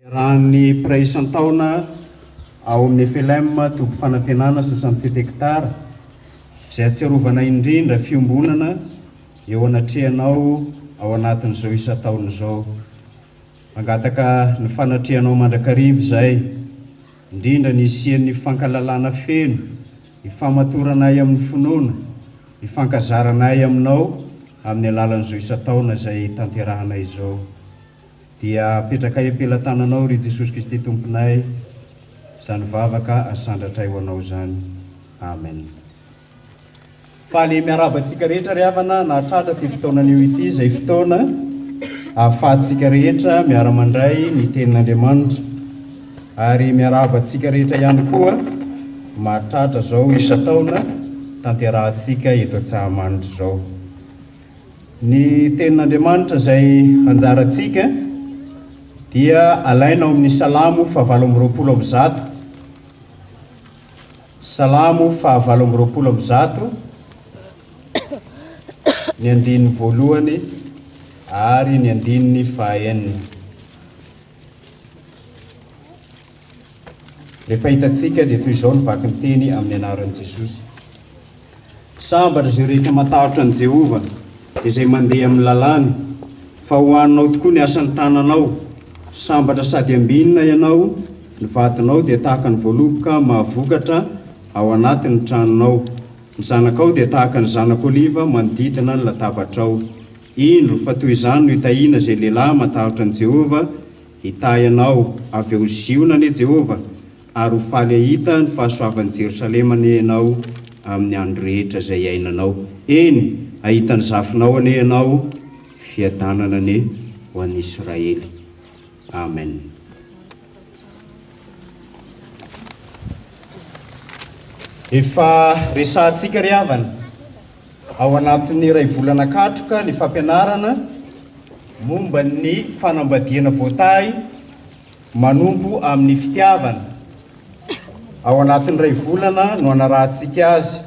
Iarahan'ny mpiray isan-taona ao amin'ny FLM toby fanantenana sy Santé Tectare izay atsiarovana indrindra fiombonana eo anatrehanao ao anatin'izao isan-taona izao. Mangataka ny fanatrehanao mandrakariva izay, indrindra ny hisian'ny fankalalana feno, hifahamatoranay amin'ny finoana, hifankazaranay aminao amin'ny alalan'izao isan-taona izay tanterahanay izao. Dia apetrakay am-pelatananao ry Jesosy Kristy Tomponay izany vavaka asandratray ho anao izany. Amen. Faly miarahaba antsika rehetra ry havana nahatratra ity fotoanan'io ity izay fotoana ahafahantsika rehetra miara-mandray ny tenin'Andriamanitra ary miarahaba antsika rehetra ihany koa mahatratra izao isan-taona tanterahantsika eto Antsahamanitra izao. Ny Tenin'Andriamanitra izay anjarantsika dia alaina ao amin'ny Salamo fahavalo amby roapolo amby zato, Salamo fahavalo amby roapolo amby zato, ny andininy voalohany ary ny andininy fahaenina. Ny fahitantsika dia toy izao ny vaky ny teny amin'ny anaran'i Jesosy, Sambatra izay rehetra matahotra an'i Jehovah, izay mandeha amin'ny lalàny, fa ho anao tokoa ny asan'ny tananao, sambatra sady ambinina ianao, ny vadinao dia tahaka ny voaloboka mahavokatra ao anatin'ny tranonao, ny zanakao dia tahaka ny zanak'oliva manodidina ny latabatrao. Indro fa toy izany no itahiana izay lehilahy matahotra an'i Jehovah, Hitahy anao avy eo ho Ziona anie Jehovah, ary ho faly hahita ny fahasoavan'i Jerosalema anie ianao amin'ny andro rehetra izay iainanao. Eny, hahita ny zafinao anie ianao, fiadanana anie ho an'i Israely. Amen. Efa resahantsika ry havana Ao anatin'ny iray volana katroka ny fampianarana momba ny fanambadiana voatahy manompo amin'ny fitiavana. Ao anatin'ny iray volana no anarahantsika azy.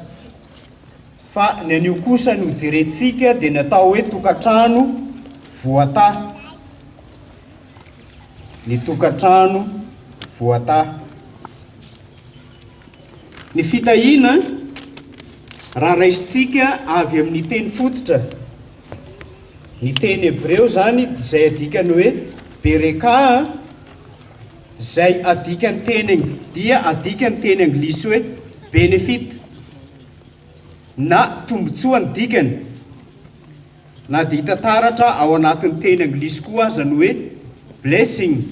Fa ny anio kosa no jerentsika dia ny atao hoe tokantrano voatahy. Ny tokantrano voatahy. Ny fitahiana, raha raisintsika avy amin'ny teny fototra, ny teny hebreo izany izay adikany hoe berekah, izay adikany teny dia adikany teny anglisy hoe benefit na tombontsoa ny dikany. Na dia hita taratra ao anatin'ny teny anglisy koa aza ny hoe blessing,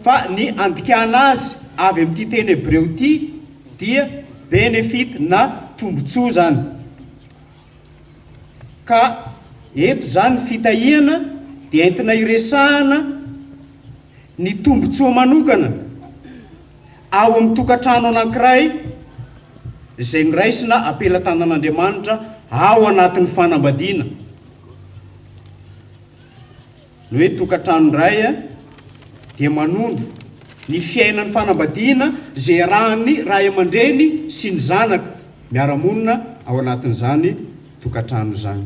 fa ny andikana azy avy amin'ity teny hebreo ity dia benefit na tombontsoa izany. Ka eto izany ny fitahiana dia entina iresahana ny tombontsoa manokana. Ao amin'ny tokantrano anankiray izay noraisina am-pelatanan'Andriamanitra ao anatin'ny fanambadiana, ny hoe tokantrano indray dia manondro ny fiainan'ny fanambadiana izay iarahan'ny ray aman-dreny sy ny zanaka miara-monina ao anatin'izany tokantrano izany.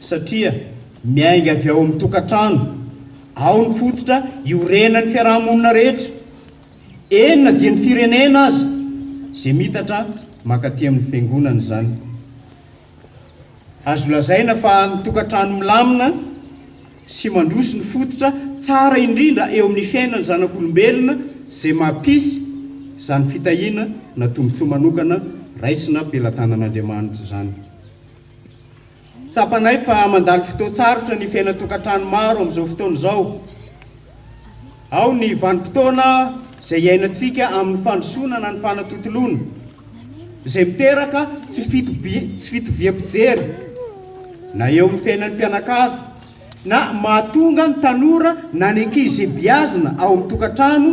satria miainga avy ao amin'ny tokantrano, ao ny fototra iorenan'ny fiaraha-monina rehetra, eny na dia ny firenena aza, izay miitatra mankaty amin'ny fiangonana izany. Azo lazaina fa ny tokantrano milamina sy mandroso no fototra tsara indrindra eo amin'ny fiainan'ny zanak'olombelona izay mampisy izany fitahiana na tombontsoa manokana raisina pelatanan'Andriamanitra izany. Tsapanay fa mandalo fotoan-tsarotra ny fiainan-tokantrano maro amin'izao fotoana izao. Ao ny vanim-potoana izay iainantsika amin'ny fandrosoana na ny fanatontoloana, izay miteraka tsy fitoviam-pijery na eo amin'ny fiainan'ny mpianakavy na mahatonga ny tanora na ny ankizy izay beazina ao amin'ny tokantrano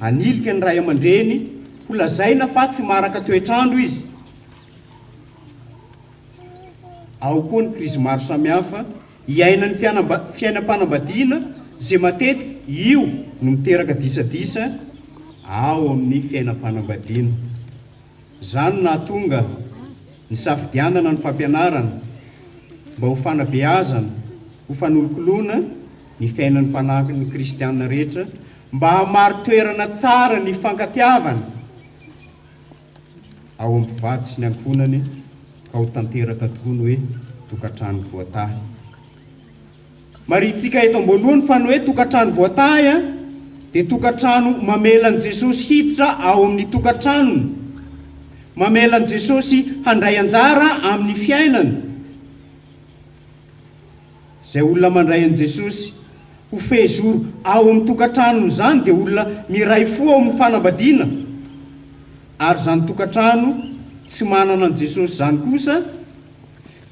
hanilika ny ray aman-dreny ho lazaina fa tsy maharaka toetr'andro izy. Ao koa ny krizy maro samihafa iainan'ny fiainam-panambadiana izay matetika io no miteraka disadisa ao amin'ny fiainam-panambadiana. Izany no nahatonga ny safidianana ny fampianarana mba ho fanabeazana, ho fanolokoloana ny fiainan'ny mpanampiny kristiana rehetra mba hamari-toerana tsara ny hifankatiavana. ao amin'ny mpivady sy ny ankohonany ka ho tanteraka tokoa ny hoe tokantrano voatahy. Marintsika eto am-boalohany fa ny hoe tokantrano voatahy dia tokantrano mamela an'i Jesosy hiditra ao amin'ny tokantranony, mamela an'i Jesosy handray anjara amin'ny fiainany. Izay olona mandray an'i Jesosy ho fehizoro ao amin'ny tokantranony izany dia olona miray fo ao amin'ny fanambadiana, ary izany tokantrano tsy manana an'i Jesosy izany kosa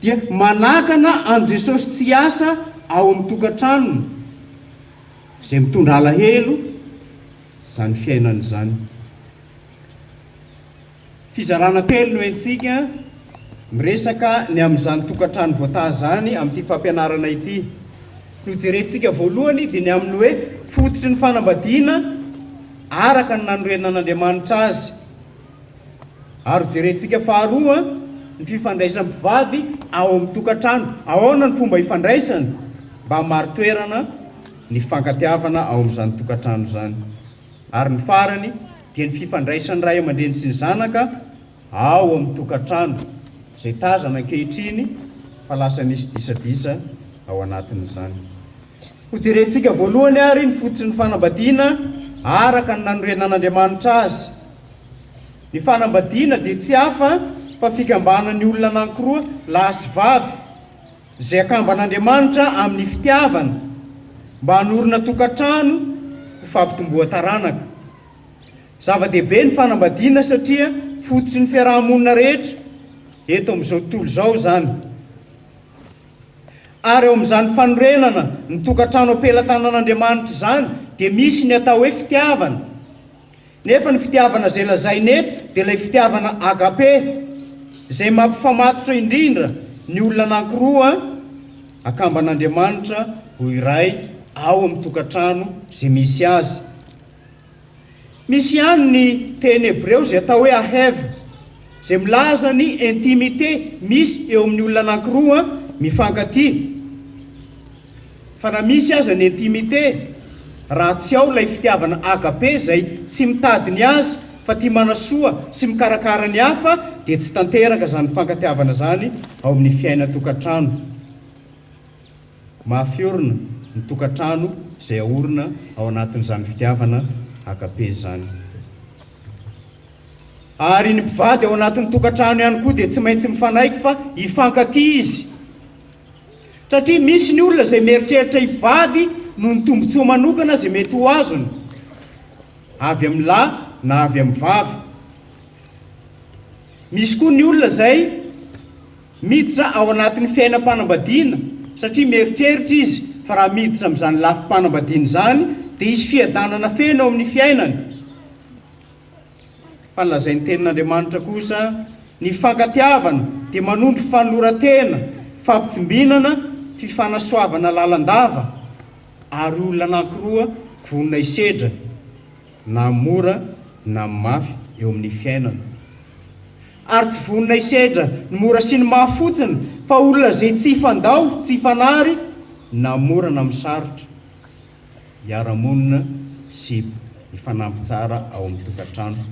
dia manakana an'i Jesosy tsy hiasa ao amin'ny tokantranony, izay mitondra alahelo izany fiainana izany. Fizarana telo no entintsika miresaka ny amin'izany tokantrano voataha izany amin'ity fampianarana ity. No jerentsika voalohany dia ny amin'ny hoe fototry ny fanambadiana araka ny nanorenana an'Andriamanitra azy. Ary ho jerentsika faharoa ny fifandraisan'ny mpivady ao amin'ny tokantrano. Ahoana ny fomba ifandraisany mba hamari-toerana ny fifankatiavana ao amin'izany tokantrano izany. Ary ny farany dia ny fifandraisan'ny ray aman-dreny sy ny zanaka ao amin'ny tokantrano, izay tazana ankehitriny fa lasa misy disadisa ao anatin'izany. Hojerentsika voalohany àry ny fototry ny fanambadiana araka ny nanorenan'Andriamanitra azy. Ny fanambadiana dia tsy hafa fa fikambanan'ny olona anankiroa, lahy sy vavy, Izay akamban'Andriamanitra amin'ny fitiavana mba hanorina tokantrano ho fampitomboan-taranaka. Zava-dehibe ny fanambadiana satria fototry ny fiaraha-monina rehetra eto amin'izao tontolo izao izany. Ary ao amin'izany fanorenana ny tokantrano am-pelatanan'Andriamanitra izany dia misy ny atao hoe fitiavana. Nefa ny fitiavana izay lazaina eto dia ilay fitiavana agape izay mampifamatotra indrindra ny olona anankiroa akamban'Andriamanitra ho iray ao amin'ny tokantrano izay misy azy. Misy ihany ny teny hebreo izay atao hoe ahev izay milaza ny intimité misy eo amin'ny olona anankiroa mifankatia. Fa na misy aza ny intimité, raha tsy ao ilay fitiavana agape izay tsy mitady ny azy fa tia manasoa sy mikarakara ny hafa dia tsy tanteraka izany fifankatiavana izany ao amin'ny fiainan-tokantrano. Mafy orina ny tokantrano izay aorina ao anatin'izany fitiavana agape izany. Ary ny mpivady ao anatin'ny tokantrano ihany koa dia tsy maintsy mifanaiky fa hifankatia izy Satria misy ny olona izay mieritreritra hivady noho ny tombontsoa manokana izay mety ho azony, avy amin'ny lahy na avy amin'ny vavy. Misy koa ny olona izay miditra ao anatin'ny fiainam-panambadiana satria mieritreritra izy fa raha miditra amin'izany lafim-panambadiana izany dia hisy fiadanana feno eo amin'ny fiainany. Fa ny lazain-tenin'Andriamanitra kosa, Ny fankatiavana dia manondro fanoloran-tena, fampitsimbinana, fifanasoavana lalandava, ary olona anankiroa vonona hisedra, na amin'ny mora na amin'ny mafy, eo amin'ny fiainana. Ary tsy vonona hisedra ny mora sy ny mafy fotsiny, fa olona izay tsy hifandao, tsy hifanary, na amin'ny mora na amin'ny sarotra. hiara-monina sy hifanampy tsara ao amin'ny tokantrano.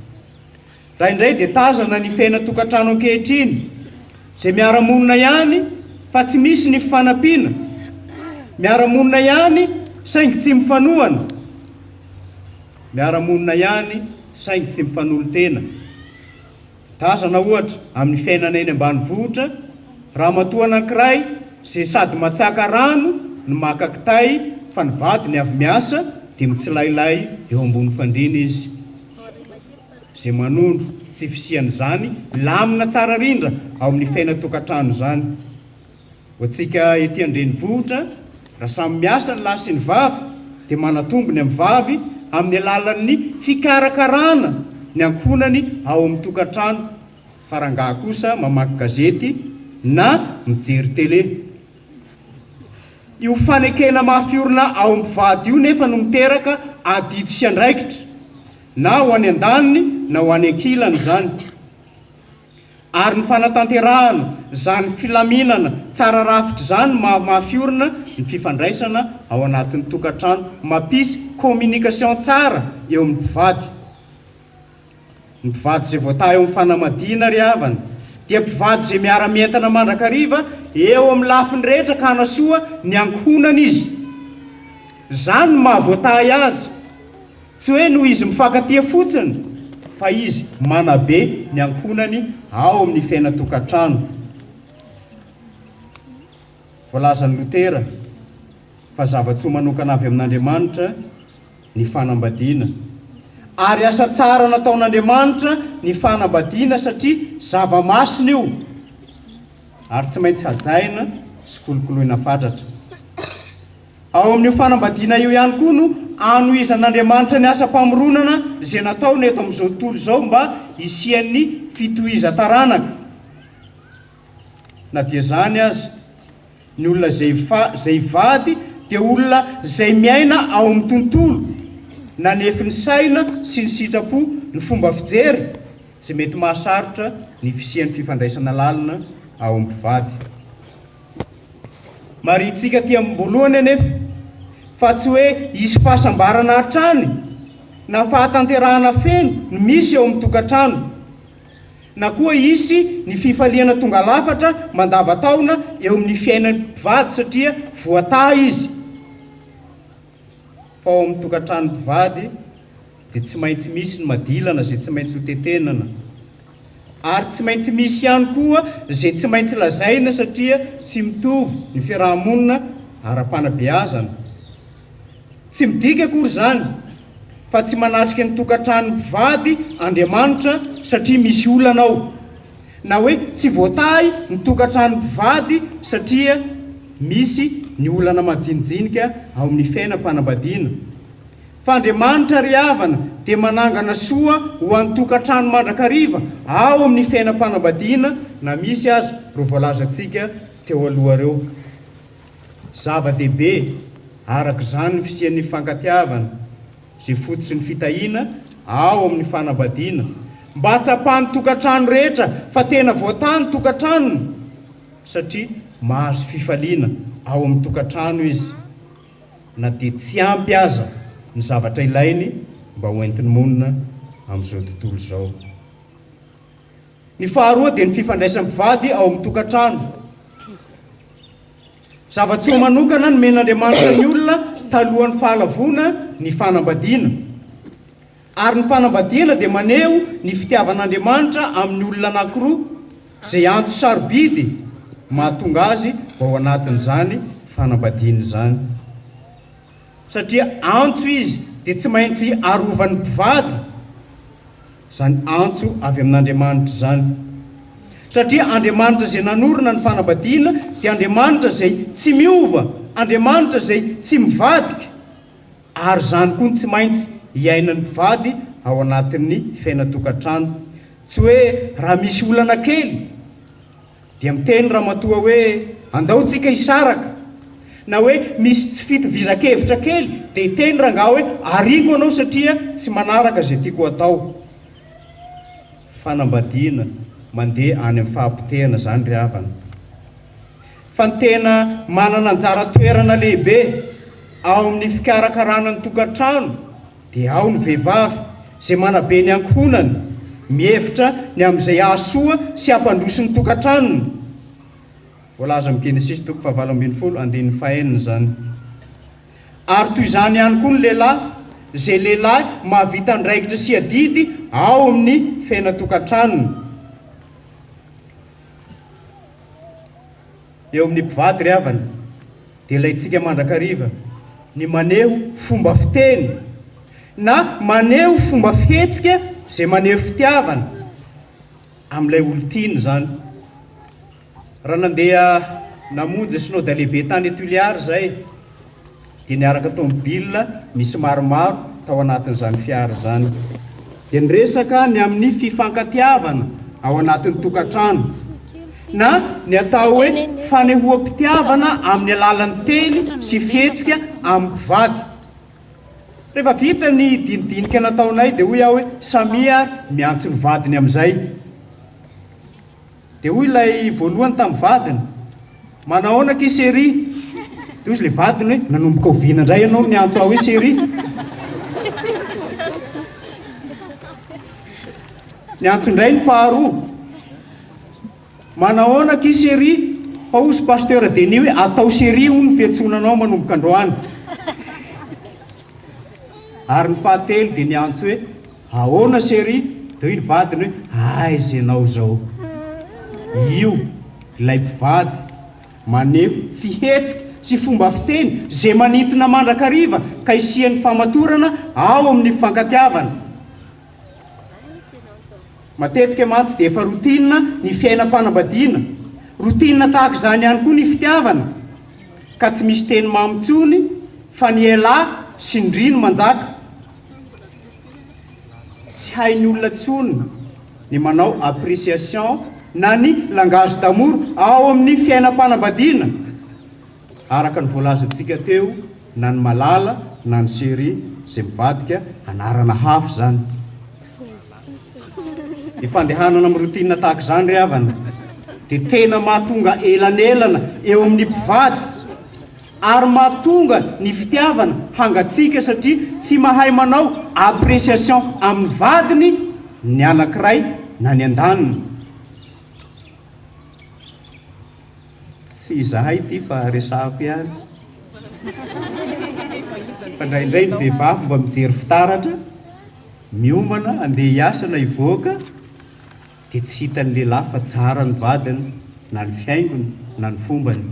Raha indray dia tazana ny fiainan-tokantrano ankehitriny izay miara-monina ihany fa tsy misy ny fifanampiana, miara-monina ihany saingy tsy mifanohana, miara-monina ihany saingy tsy mifanolo-tena. Tazana, ohatra, amin'ny fiainana eny ambanivohitra, ramatoa anankiray izay sady matsaka rano no maka kitay fa ny vadiny avy miasa dia mitsilailay eo ambony fandriana izy izay manondro tsy fisian'izany lamina tsara rindra ao amin'ny fiainan-tokantrano izany. Ho antsika ety an-drenivohitra, raha samy miasa ny lahy sy ny vavy dia manatombo ny amin'ny vavy amin'ny alalan'ny fikarakarana ny ankohonany ao amin'ny tokantrano fa rangahy kosa mamaky gazety na mijery tele. Io fanekena mafy orina ao amin'ny mpivady io nefa no miteraka adidy sy andraikitra na ho any an-daniny na ho any an-kilany izany. ary ny fanatanterahana izany filaminana tsara rafitra izany mahamafy orina ny fifandraisana ao anatin'ny tokantrano, mampisy communication tsara eo amin'ny mpivady. Ny mpivady izay voataha eo amin'ny fanamadiana ry havana dia mpivady izay miara-mientana mandrakariva eo amin'ny lafiny rehetra ka hanasoa ny ankohonany izy. Izany no maha voatahy azy. Tsy hoe noho izy mifankatia fotsiny fa izy manabe ny ankohonany ao amin'ny fiainan-tokantrano. Voalazan'i Lotera fa zava-tsoa manokana avy amin'Andriamanitra ny fanambadiana. Ary asa tsara nataon'Andriamanitra ny fanambadiana satria zava-masina io ary tsy maintsy hajaina sy kolokoloina fatratra. Ao amin'io fanambadiana io ihany koa no anohizan'Andriamanitra ny asam-pamoronana izay nataony eto amin'izao tontolo izao mba hisian'ny fitohizan-taranaka. Na dia izany aza, ny olona izay izay hivady dia olona izay miaina ao amin'ny tontolo nanefy ny saina sy ny sitrapo ny fomba fijery izay mety mahasarotra ny fisian'ny fifandraisana lalina ao amin'ny mpivady. Marihintsika aty amim-boalohany anefa fa tsy hoe hisy fahasambarana hatrany na fahatanterahana feno no misy eo amin'ny tokantrano, na koa hisy ny fifaliana tonga lafatra mandavan-taona eo amin'ny fiainan'ny mpivady satria voataha izy. fa ao amin'ny tokantrano mpivady dia tsy maintsy misy ny madilana izay tsy maintsy ho tetenana ary tsy maintsy misy ihany koa izay tsy maintsy lazaina satria tsy mitovy ny fiaraha-monina ara-panabeazana. Tsy midika akory izany fa tsy manatrika ny tokantrano mpivady Andriamanitra satria misy olana ao. na hoe tsy voatahy ny tokantrano mpivady satria misy ny olana majinijinika ao amin'ny fiainam-panambadiana. Fa Andriamanitra ry havana dia manangana soa ho an'ny tokantrano mandrakariva ao amin'ny fiainam-panambadiana na misy aza ireo voalazantsika teo aloha ireo. Zava-dehibe araka izany ny fisian'ny fifankatiavana. Izay fototry ny fitahiana ao amin'ny fanambadiana mba hatsapan'ny tokantrano rehetra fa tena voatà ny tokantranony satria mahazo fifaliana ao amin'ny tokantrano izy na dia tsy ampy aza ny zavatra ilainy mba hoentiny monina amin'izao tontolo izao. Ny faharoa dia ny fifandraisan'ny mpivady ao amin'ny tokantrano. Zava-tsoa manokana nomen'Andriamanitra ny olona talohan'ny Fahalavoana ny fanambadiana. Ary ny fanambadiana dia maneho ny fitiavan'Andriamanitra amin'ny olona anankiroa, izay antso sarobidy mahatonga azy ao anatin'izany fanambadiana izany. Satria antso izy dia tsy maintsy arovan'ny mpivady izany antso avy amin'Andriamanitra izany. Satria Andriamanitra izay nanorina ny fanambadiana dia Andriamanitra izay tsy miova, Andriamanitra izay tsy mivadika, ary izany koa no tsy maintsy iainan'ny mpivady ao anatin'ny fiainan-tokantrano. Tsy hoe raha misy olana kely. Dia miteny ramatoa hoe andao tsika hisaraka na hoe misy tsy fitovizan-kevitra kely dia hiteny rangahy hoe ariako anao satria tsy manaraka izay tiako hatao. Fanambadiana mandeha any amin'ny fahapotehana izany ry havana. Fa ny tena manana anjara toerana lehibe ao amin'ny fikarakarana ny tokantrano, Dia ao ny vehivavy izay manabe ny ankohonany, mihevitra ny amin'izay hahasoa sy hampandroso ny tokantranony. Voalaza amin'ny Genesisy toko fahavalo ambin'ny folo andininy fahenina izany. Ary toy izany ihany koa ny lehilahy, izay lehilahy mahavita andraikitra sy adidy ao amin'ny fenatokan-tranony. Eo amin'ny mpivady ry havana dia ilaintsika mandrakariva ny maneho fomba fiteny na maneho fomba fihetsika izay maneho fitiavana amin'ilay olon-tiana izany. Raha nandeha namonjy Synoda Lehibe tany Tuliar izahay, dia niaraka tomobilina nisy maromaro tao anatin'izany fiara izany dia niresaka ny amin'ny fifankatiavana ao anatin'ny tokantrano na ny atao hoe fanehoam-pitiavana amin'ny alalan'ny teny sy fihetsika amin'ny mpivady. Rehefa vita ny dinidinika nataonay dia hoy aho hoe samia ary miantso ny vadiny amin'izay. Dia hoy ilay voalohany tamin'ny vadiny, Manahoana akia Seri? Dia hozy ilay vadiny hoe, Nanomboka oviana indray ianao no niantso ahy hoe Seri? Niantso indray ny faharoa, Manahoana akia Seri? Fa hozy Pasteur Denis hoe, Atao Seri hono ny fiantsoana anao manomboka androany. Ary ny fahatelo dia niantso hoe, Ahoana chérie? Teo iny vadiny hoe, aiza ianao izao? Io ilay mpivady maneho fihetsika sy fomba fiteny izay manintona mandrakariva ka hisian'ny famatorana ao amin'ny fifankatiavana. Matetika mantsy dia efa routine ny fiainam-panambadiana. Routine tahaka izany ihany koa ny fitiavana ka tsy misy teny mamy intsony fa ny elah sy ny ndry no manjaka. Tsy hain'ny olona tsony ny manao appreciation na ny langage d'amour ao amin'ny fiainam-panambadiana araka ny voalazantsika teo na ny malala na ny chéri izay mivadika anarana hafa izany. Ny fandehanana amin'ny routine tahaka izany ry havana dia tena mahatonga elanelana eo amin'ny mpivady. ary mahatonga ny fitiavana hangatsiaka satria tsy mahay manao appréciation amin'ny vadiny ny anankiray na ny andaniny. Tsy izahay ity fa resahako ihany fa indraindray ny vehivavy mba mijery fitaratra miomana andeha hiasa na hivoaka, dia tsy hitan'ny lehilahy fa tsara ny vadiny na ny fihaingony na ny fombany.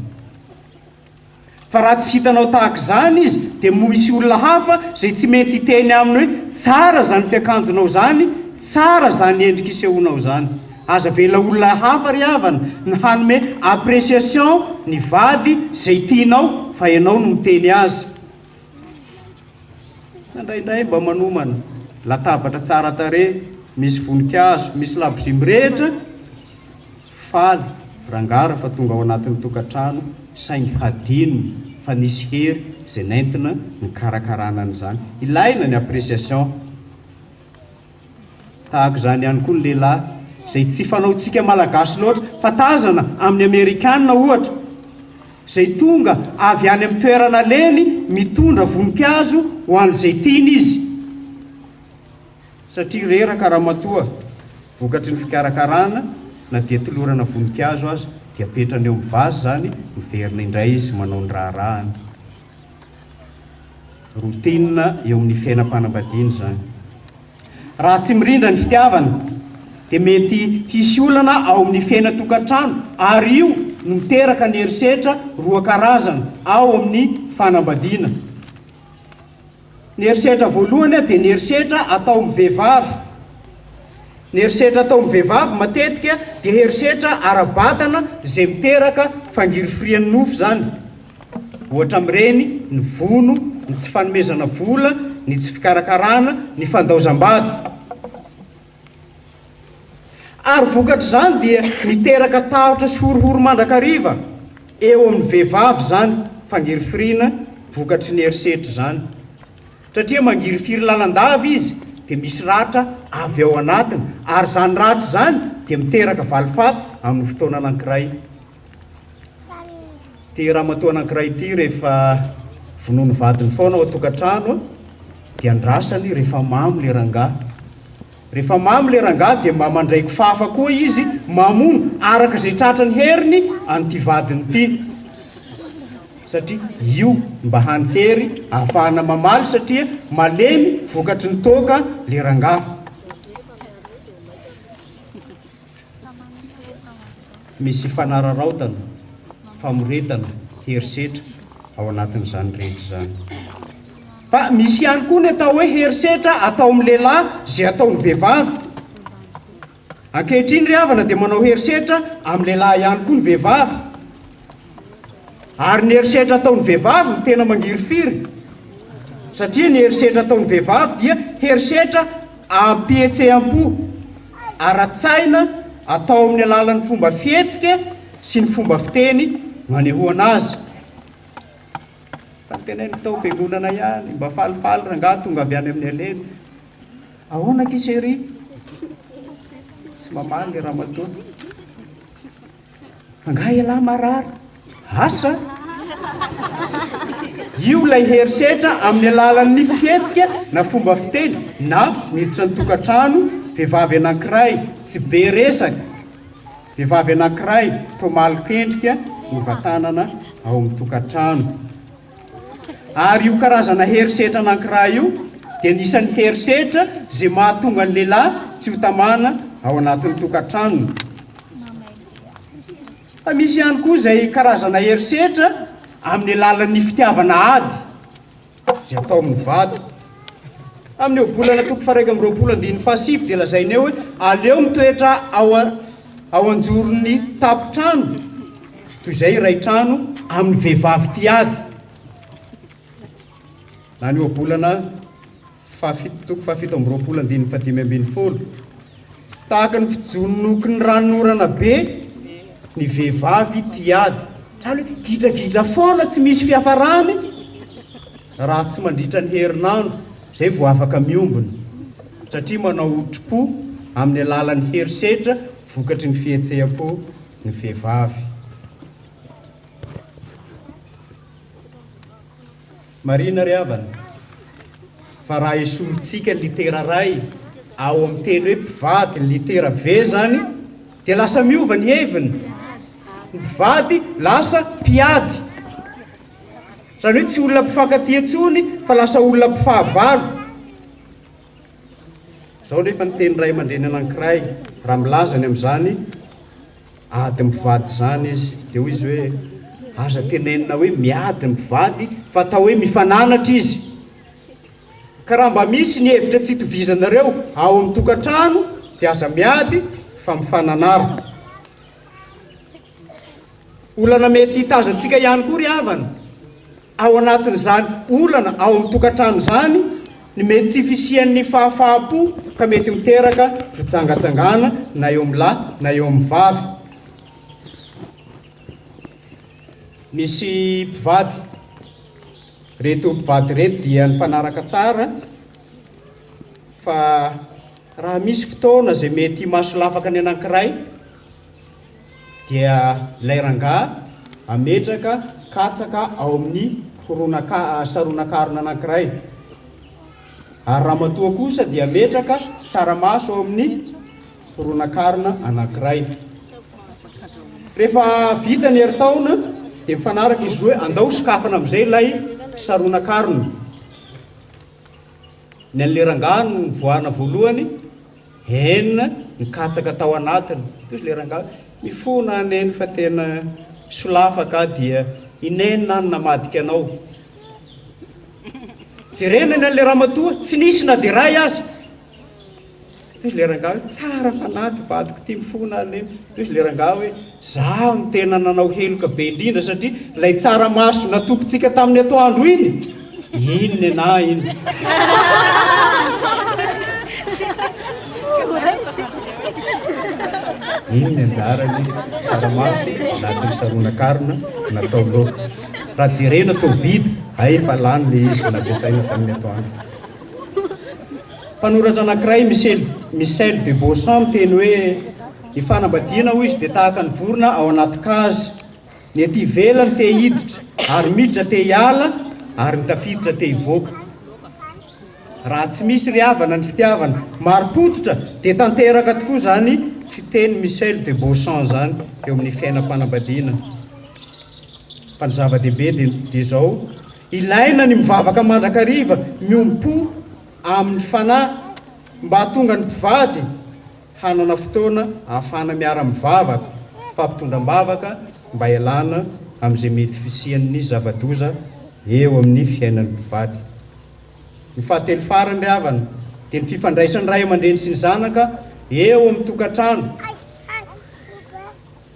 Fa raha tsy hitanao tahaka izany izy dia moa hisy olona hafa izay tsy mentsy hiteny aminy hoe tsara izany fiakanjonao izany, tsara izany endrika isehoanao izany. Aza avela olona hafa ry havana ny hanome appreciation ny vady izay tianao fa ianao no miteny azy. Indraindray mba manomana latabatra tsara tarehy, misy voninkazo, misy labozia mirehitra. Faly rangahy raha fa tonga ao anatin'ny tokantrano saingy hadino fa nisy hery izay nentina nikarakarana an'izany. Ilaina ny appréciation. Tahaka izany ihany koa ny lehilahy, izay tsy fanaontsika Malagasy loatra, fa tazana amin'ny Amerikana ohatra, izay tonga avy any amin'ny toerana leny mitondra voninkazo ho an'izay tiany izy, satria reraka ramatoa vokatry ny fikarakarana na dia tolorana voninkazo aza, dia apetrany eo amin'ny vazy izany, miverina indray izy manao ny raharahany. Routine eo amin'ny fiainam-panambadiana izany. Raha tsy mirindra ny fitiavana dia mety hisy olana ao amin'ny fiainan-tokantrano ary io no miteraka ny herisetra roa karazana ao amin'ny fanambadiana. Ny herisetra voalohany dia ny herisetra atao amin'ny vehivavy. Ny herisetra atao amin'ny vehivavy matetika dia herisetra ara-batana izay miteraka fangirifirian'ny nofo izany. Ohatra amin'ireny ny vono, ny tsy fanomezana vola, ny tsy fikarakarana, ny fandaozam-bady. Ary vokatr'izany dia miteraka tahotra sy horohoro mandrakariva eo amin'ny vehivavy izany fangirifiriana vokatry ny herisetra izany. Satria mangirifiry lalandava izy dia misy ratra avy ao anatiny ary izany ratra izany dia miteraka valifaty amin'ny fotoana anankiray. Ity ramatoa anankiray ity rehefa vonoa ny vadiny foana ao an-tokantrano dia andrasany rehefa mamo le rangahy. Rehefa mamo le rangahy dia mba mandray kifafa koa izy mamono araka izay tratry ny heriny an'ity vadiny ity. Satria io mba hany hery ahafahana mamaly satria malemy vokatry ny toaka le rangahy. Misy fanararaotana, famoretana, herisetra ao anatin'izany rehetra izany. Fa misy ihany koa ny atao hoe herisetra atao amin'ny lehilahy izay ataon'ny vehivavy. Ankehitriny ry havana dia manao herisetra amin'ny lehilahy ihany koa ny vehivavy. Ary ny herisetra ataon'ny vehivavy no tena mangirifiry, satria ny herisetra ataon'ny vehivavy dia herisetra ampihetsehampo ara-tsaina atao amin'ny alalan'ny fomba fihetsika sy ny fomba fiteny manehoana azy. Fa tena ny tao am-piangonana ihany, mba falifaly rangahy tonga avy any amin'ny aleny. Ahoana akia chérie? Tsy mamaly ny ramatoa. Angaha ialahy marary asa? Io ilay herisetra amin'ny alalan'ny fihetsika na fomba fiteny na miditra ny tokantrano vehivavy anankiray tsy be resaka, vehivavy anankiray toa malok'endrika novatanana ao amin'ny tokantrano. Ary io karazana herisetra anankiray io dia anisan'ny herisetra izay mahatonga ny lehilahy tsy ho tamana ao anatin'ny tokantranony. Fa misy ihany koa izay karazana herisetra amin'ny alalan'ny fitiavana ady izay atao amin'ny vady. Amin'io volana toko faharaika amby roapolo andininy fahasivy dia lazaina eo hoe aleo mitoetra ao ao an-joron'ny tampon-trano toy izay iray trano amin'ny vehivavy tia ady. Na ny ohabolana fahafito toko fahafito amby roapolo andininy fahadimy ambin'ny folo. Tahaka ny fijononoky ny ranonorana be ny vehivavy tia ady. Izany hoe gidragidra foana tsy misy fiafarany Raha tsy mandritra ny herinandro izay vao afaka miombona, satria manao otripo amin'ny alalan'ny herisetra vokatry ny fihetseham-po ny vehivavy. Marihina ry havana fa raha esorintsika ny litera ray ao amin'ny teny hoe mpivady, ny litera V izany, dia lasa miova ny heviny, ny mpivady lasa mpiady. Izany hoe tsy olona mpifankatia intsony fa lasa olona mpifahavalo. Izao anefa ny tenin'ny ray aman-dreny anankiray, raha milaza ny amin'izany ady mpivady izany izy, dia hoy izy hoe, Aza tenenina hoe miady ny mpivady fa atao hoe mifananatra izy. Ka raha mba misy ny hevitra tsy itovizanareo ao amin'ny tokantrano dia aza miady fa mifananara. Olana mety hitazantsika ihany koa ry havana, ao anatin'izany olana ao amin'ny tokantrano izany, ny mety tsy fisian'ny fahafaham-po ka mety miteraka fijangajangana na eo amin'ny lahy na eo amin'ny vavy. Misy mpivady, reto mpivady reto dia nifanaraka tsara fa raha misy fotoana izay mety himaso lafaka ny anankiray, dia ilay rangahy ametraka katsaka ao amin'ny horonankarona, saronankarona anankiray, ary ramatoa kosa dia ametraka tsaramaso ao amin'ny horonankarona anankiray. Rehefa vita ny herintaona dia mifanaraka izy roa, andao sokafana amin'izay ilay saronankarona. Ny an'ilay rangahy no nivoahana voalohany, Hen nikatsaka tao anatiny toy le rangahy mifona an Neny fa tena solafa ka dia i Neny an namadika anao Jerena ny an le ramatoa tsy nisy na de ray aza toy le rangahy tsara fanahy ty vadiko ty mifona an Neny Diso le rangah hoe zaho no tena nanao heloka be indrindra satria ilay tsaramaso natokintsika tamin'ny atoandro iny iny nenahy iny iny ny anjarany tsaramaso natao saronan-karona natao loaka raha jerena toa vita hay fa lany le izy navesaina tamin'ny atoandro Mpanoratra anankiray, Michel Michel de Beauchamp, miteny hoe, Ny fanambadiana, hoy izy, dia tahaka ny vorona ao anaty kazy. Ny ety ivelany te hiditra ary miditra te hiala ary ny tafiditra te hivoaka. Raha tsy misy ry havana ny fitiavana marim-pototra dia tanteraka tokoa izany fiteny Michel de Beauchamp izany eo amin'ny fiainam-panambadiana. Fa ny zava-dehibe dia dia izao, Ilaina ny mivavaka mandrakariva miompo amin'ny fanahy mba hahatonga ny mpivady hanana fotoana ahafahana miara-mivavaka fa mpitondra am-bavaka mba hialana amin'izay mety fisian'ny zava-doza eo amin'ny fiainan'ny mpivady. Ny fahatelo farany ry havana dia ny fifandraisan'ny ray aman-dreny sy ny zanaka eo amin'ny tokantrano.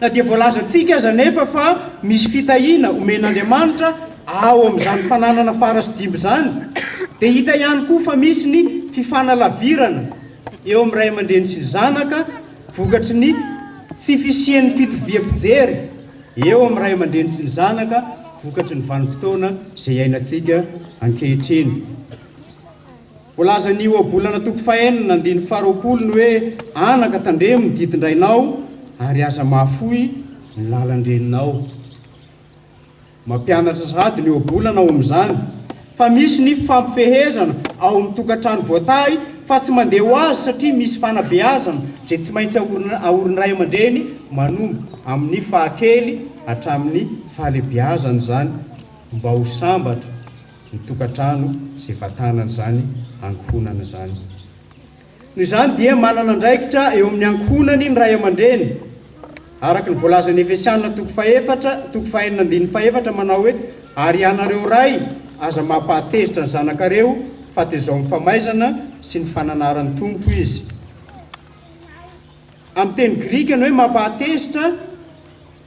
Na dia voalazantsika aza anefa fa misy fitahiana omen'Andriamanitra ao amin'izany fananana fara sy dimby izany, dia hita ihany koa fa misy ny fifanalavirana eo amin'ny ray aman-dreny sy ny zanaka vokatry ny tsy fisian'ny fitoviam-pijery eo amin'ny ray aman-dreny sy ny zanaka vokatry ny vanim-potoana izay iainantsika ankehitriny. Voalazan'ny ohabolana toko fahenina andininy faharoapolo ny hoe, Anaka, tandremo ny didin-drainao, ary aza mahafoy ny lalan-dreninao. Mampianatra sahady ny ohabolana ao amin'izany, fa misy ny fifampifehezana ao amin'ny tokantrano voatahy, fa tsy mandeha ho azy satria misy fanabeazana izay tsy maintsy ahorin'ny ray aman-dreny manomboka amin'ny fahakely hatramin'ny fahalebiazana izany mba ho sambatra. ny tokantrano izay vatanana izany ankohonana izany. Noho izany dia manana andraikitra eo amin'ny ankohonany ny ray aman-dreny. Araka ny voalazan'ny Efesiana toko fahefatra toko fahenina andininy fahefatra manao hoe ary ianareo ray aza mampahatezitra ny zanakareo fa tezao amin'ny famaizana sy ny fananaran'ny Tompo izy. Amin'ny teny grika ny hoe mampahatezitra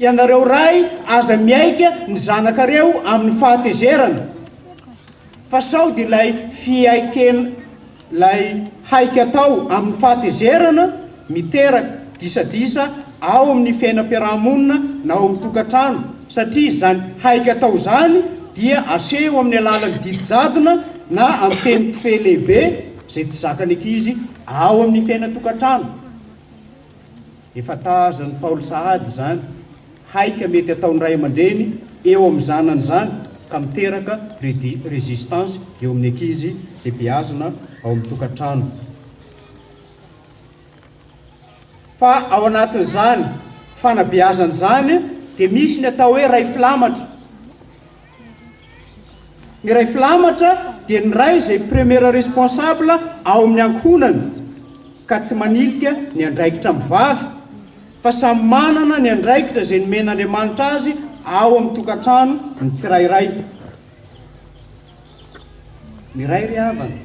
Ianareo Ray aza miaika ny zanakareo amin'ny fahatezerana fa sao dia ilay fiaiken lay haika atao amin'ny fahatezerana miteraka disadisa ao amin'ny fiainam-piarahamonina na ao amin'ny tokantrano satria izany haika atao izany dia aseho amin'ny alalan'ny didy jadona na amin'ny teny kofehy lehibe izay tsy zakan'ny ankizy ao amin'ny fiainan-tokantrano. Efa tazan'i Paoly sahady izany haika mety ataon'ny ray aman-dreny eo amin'ny zanany izany ka miteraka résistance eo amin'ny ankizy izay beazina ao amin'ny tokantrano. Fa ao anatin'izany fanabeazana izany dia misy ny atao hoe ray filamatra. Iray filamatra dia ny ray izay premier responsable ao amin'ny ankohonana ka tsy manilika ny andraikitra amin'ny vavy fa samy manana ny andraikitra izay nomen'Andriamanitra azy ao amin'ny tokantrano ny tsirairay. Ny ray ry havana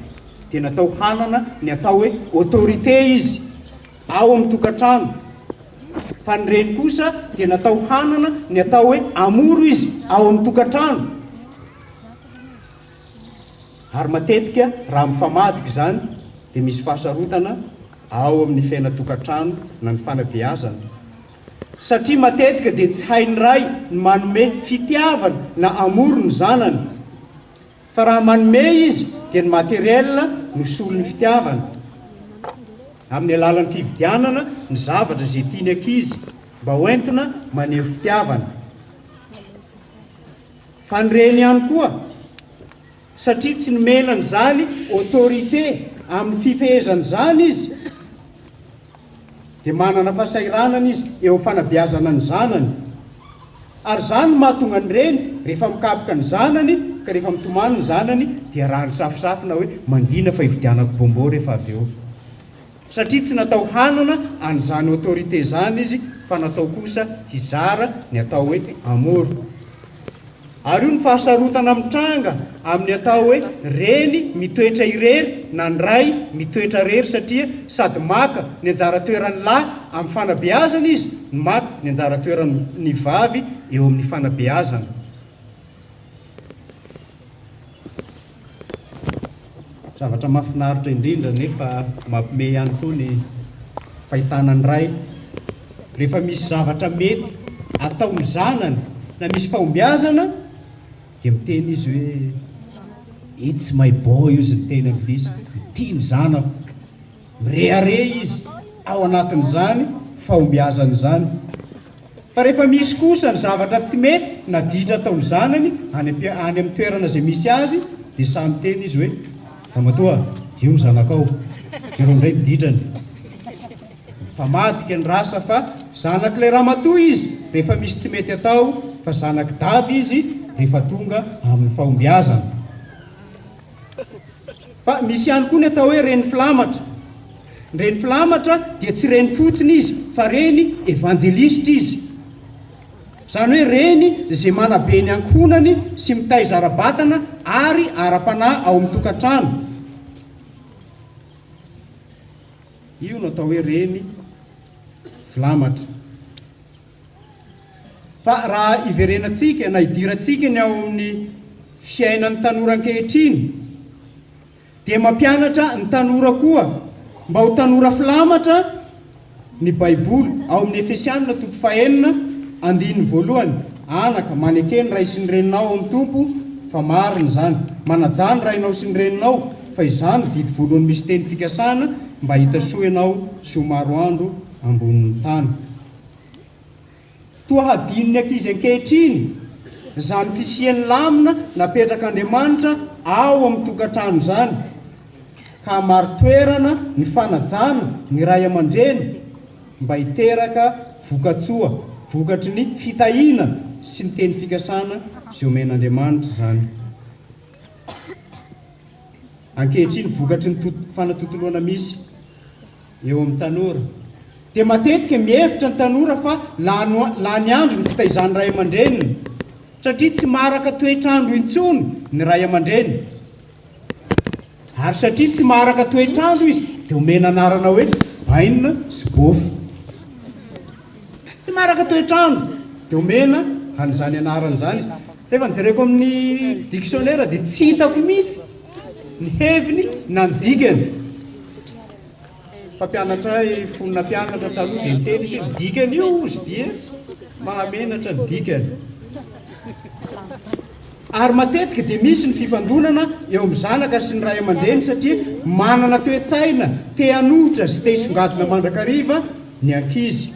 dia natao hanana ny atao hoe autorité izy. ao amin'ny tokantrano, fa ny reny kosa dia natao hanana ny atao hoe amour izy ao amin'ny tokantrano, ary matetika raha mifamadika izany dia misy fahasarotana ao amin'ny fiainan-tokantrano na ny fanabeazana, satria matetika dia tsy hain'ny ray ny manome fitiavana na amour ny zanany, Fa raha manome izy dia ny matériel no solon'ny fitiavana, amin'ny alalan'ny fividianana ny zavatra izay tian'ny ankizy mba ho entina maneho fitiavana. Fa ny reny ihany koa, satria tsy nomena an'izany autorité amin'ny fifehezana izany izy, dia manana fahasahiranana izy eo amin'ny fanabeazana ny zanany. Ary izany no mahatonga ny reny rehefa mikapoka ny zanany ka rehefa mitomany ny zanany dia rariny safosafo na hoe mangina fa hividianako bonbon rehefa avy eo. Satria tsy natao hanana an'izany autorité izany izy fa natao kosa hizara ny atao hoe amour. Ary io ny fahasarotana mitranga amin'ny atao hoe reny mitoetra irery na ny ray mitoetra irery satria sady maka ny anjara toeran'ny lahy amin'ny fanabeazana izy no maka ny anjara toeran'ny vavy eo amin'ny fanabeazana. Zavatra mahafinaritra indrindra nefa mampime ihany koa ny fahitana ny ray rehefa misy zavatra mety atao ny zanany na misy fahombiazana dia miteny izy hoe it's my boy ozy ny teny anglisy, ity ny zanako. Mirehareha izy ao anatin'izany fahombiazany izany. Fa rehefa misy kosa ny zavatra tsy mety na ditra ataon'ny zanany any amin'ny toerana izay misy azy dia sahy miteny izy hoe, Ramatoa, io ny zanakao. Jereo indray ny ditrany. Mifamadika ny rasa fa zanak'ilay ramatoa izy rehefa misy tsy mety atao fa zanak'i Dada izy rehefa tonga amin'ny fahombiazana. Fa misy ihany koa ny atao hoe reny filamatra. Ny reny filamatra dia tsy reny fotsiny izy fa reny evanjelisitra izy. Izany hoe reny izay manabe ny ankohonany sy mitaiza ara-batana ary ara-panahy ao amin'ny tokantrano. Io no atao hoe reny filamatra. Fa raha iverenantsika na idirantsika ny ao amin'ny fiainan'ny tanora ankehitriny dia mampianatra ny tanora koa mba ho tanora filamatra ny baiboly ao amin'ny Efesianina toko fahenina andininy voalohany, Anaka, maneke ny ray sy ny reninao ao amin'ny Tompo fa marina izany. Manajà ny rainao sy ny reninao fa izany no didy voalohany misy teny fikasana mba hita soa ianao sy ho maro andro ambonin'ny tany. Toa hadinon'ny ankizy ankehitriny izany fisian'ny lamina napetrak'Andriamanitra ao amin'ny tokantrano izany, ka marin-toerana ny fanajana ny ray aman-dreny mba hiteraka voka-tsoa vokatry ny fitahiana sy ny teny fikasana izay omen'Andriamanitra izany ankehitriny vokatry ny fanatontoloana misy. eo amin'ny tanora, dia matetika mihevitra ny tanora fa lany lany andro ny fitaizan'ny ray aman-dreniny, satria tsy maharaka toetr'andro intsony ny ray aman-dreny, ary satria tsy maharaka toetr'andro izy dia omena anarana hoe bainina sy bofy. Tsy maharaka toetr'andro dia omena an'izany anarana izany. Rehefa nijereko amin'ny dictionnaire dia tsy hitako mihitsy ny heviny na ny dikany. Mpampianatra iray fony nampianatra taloha dia niteny izy hoe, Ny dikan'io hozy dia mahamenatra ny dikany. Ary matetika dia misy ny fifandonana eo amin'ny zanaka sy ny ray aman-dreny satria manana toe-tsaina te hanohitra sy te hisongadina mandrakariva ny ankizy.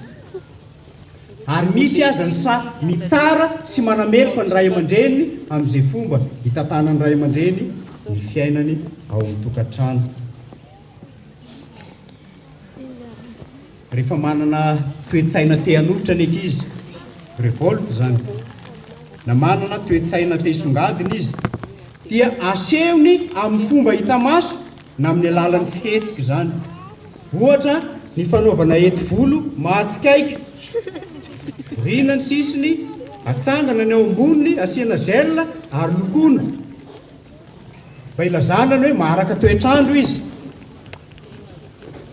Ary misy aza ny sahy mitsara sy manameloka ny ray aman-dreny amin'izay fomba itantanan'ny ray aman-dreny ny fiainany ao an-tokantrano. Rehefa manana toe-tsaina te hanolotra ny ankizy, revolte izany, na manana toe-tsaina te hisongadina izy, dia asehony amin'ny fomba hita maso na amin'ny alalan'ny fihetsika izany. Ohatra, ny fanaovana heti-volo mahatsikaiky, vorina ny sisiny, atsangana ny ao amboniny, asiana gel ary lokoina. Mba ilazana ny hoe maharaka toetr'andro izy.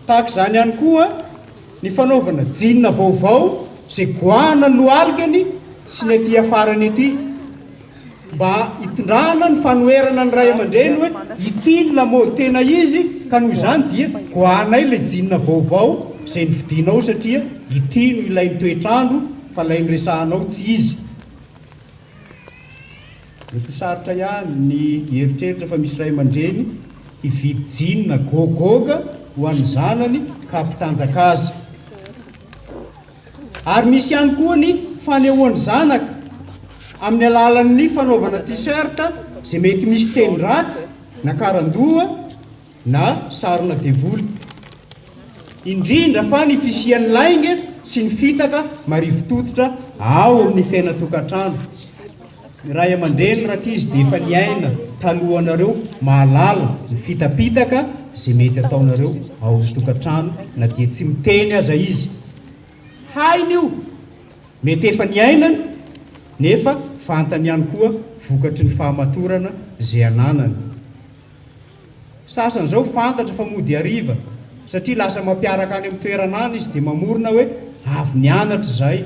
Tahaka izany ihany koa ny fanaovana jeans vaovao izay goahana ny lohalikany sy ny aty afarany aty. Mba hitondrana ny fanoherana ny ray aman-dreny hoe ity ny lamaody tena izy ka noho izany dia goahanay ilay jeans vaovao izay novidianao satria ity no ilain'ny toetr'andro fa ilay noresahanao tsy izy. Efa sarotra ihany ny hieritreritra fa misy ray aman-dreny hividy jean na gogoga ho an'ny zanany ka hampitanjaka azy. Ary misy ihany koa ny fanehoan'ny zanaka amin'ny alalan'ny fanaovana t-shirt izay mety misy teny ratsy na karandoha, na sarona devoly, indrindra fa ny fisian'ny lainga sy ny fitaka marivotototra ao amin'ny fiainan-tokantrano. Ny ray aman-dreny rankizy dia efa niaina talohanareo mahalala ny fitapitaka izay mety ataonareo ao amin'ny tokantrano na dia tsy miteny aza izy. Hainy io, mety efa niainany nefa fantany ihany koa vokatry ny fahamatorana izay ananany. Sasany izao fantatra fa mody hariva satria lasa mampiaraka any amin'ny toerana any izy dia mamorona hoe avy nianatra izahay.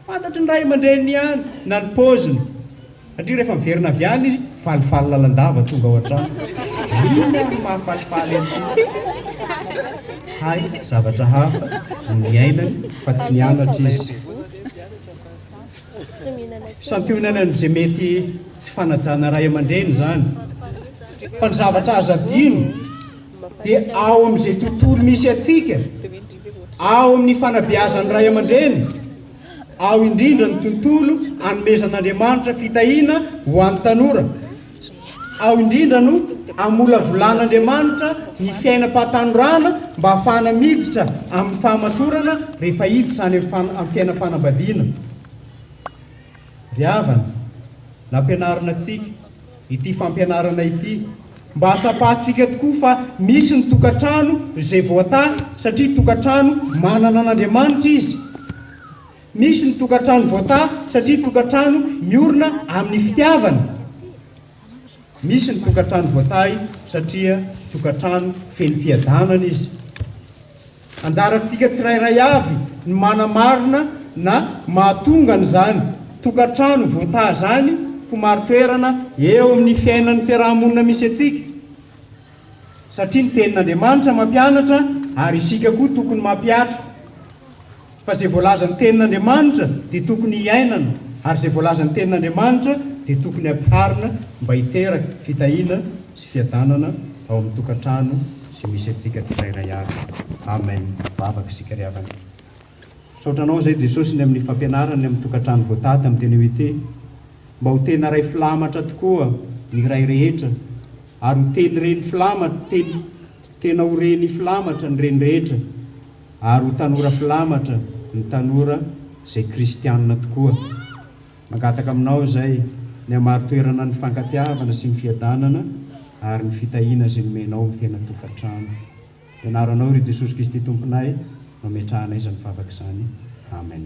Fantatry ny ray aman-dreniny ihany na ny paoziny satria rehefa miverina avy any izy, falifaly lalandava tonga ao an-trano. Inona no maha-falifaly an'ity? Hay zavatra hafa no niainany fa tsy nianatra izy. Santionany amin'izay mety tsy fanajana ray aman-dreny izany. Fa ny zavatra azo adino dia ao amin'izay tontolo misy antsika, ao amin'ny fanabeazan'ny ray aman-dreny, ao indrindra ny tontolo anomezan'Andriamanitra fitahiana ho an'ny tanora. Ao indrindra no amolavolan'Andriamanitra ny fiainam-pahatanorana mba ahafahana miditra amin'ny fahamatorana rehefa hiditra any amin'ny fiainam-panambadiana. Ry havana, nampianarina antsika ity fampianarana ity mba hahatsapantsika tokoa fa misy ny tokantrano izay voatahy satria tokantrano manana an'Andriamanitra izy. Misy ny tokantrano voataha satria tokantrano miorina amin'ny fitiavana. Misy ny tokantrano voatahy satria tokantrano feno fiadanana izy. Anjarantsika tsirairay avy ny manamarina na mahatonga an'izany tokantrano voataha izany ho mari-toerana eo amin'ny fiainan'ny fiaraha-monina misy antsika. Satria ny tenin'Andriamanitra mampianatra ary isika koa tokony mampihatra. Fa izay voalazan'ny tenin'Andriamanitra dia tokony hiainana ary izay voalazan'ny tenin'Andriamanitra dia tokony ampiharina mba hiteraka fitahiana sy fiadanana ao amin'ny tokantrano izay misy antsika tsirairay avy. Amen. Vavaka isika ry havana. Misaotra anao izay Jesosy ny amin'ny fampianarany ny amin'ny tokantrano voatady amin'ny teny hoe te mba ho tena ray filamatra tokoa ny ray rehetra ary ho teny reny filamatra teny tena ho reny filamatra ny reny rehetra ary ho tanora filamatra ny tanora izay kristianina tokoa mangataka aminao izay ny hamaro toerana ny fankatiavana sy ny fiadanana ary ny fitahiana izay nomenao ny tena tokantrano Ianaranao ry Jesosy Kristy Tomponay no ametrahanay izany vavaka izany. Amen.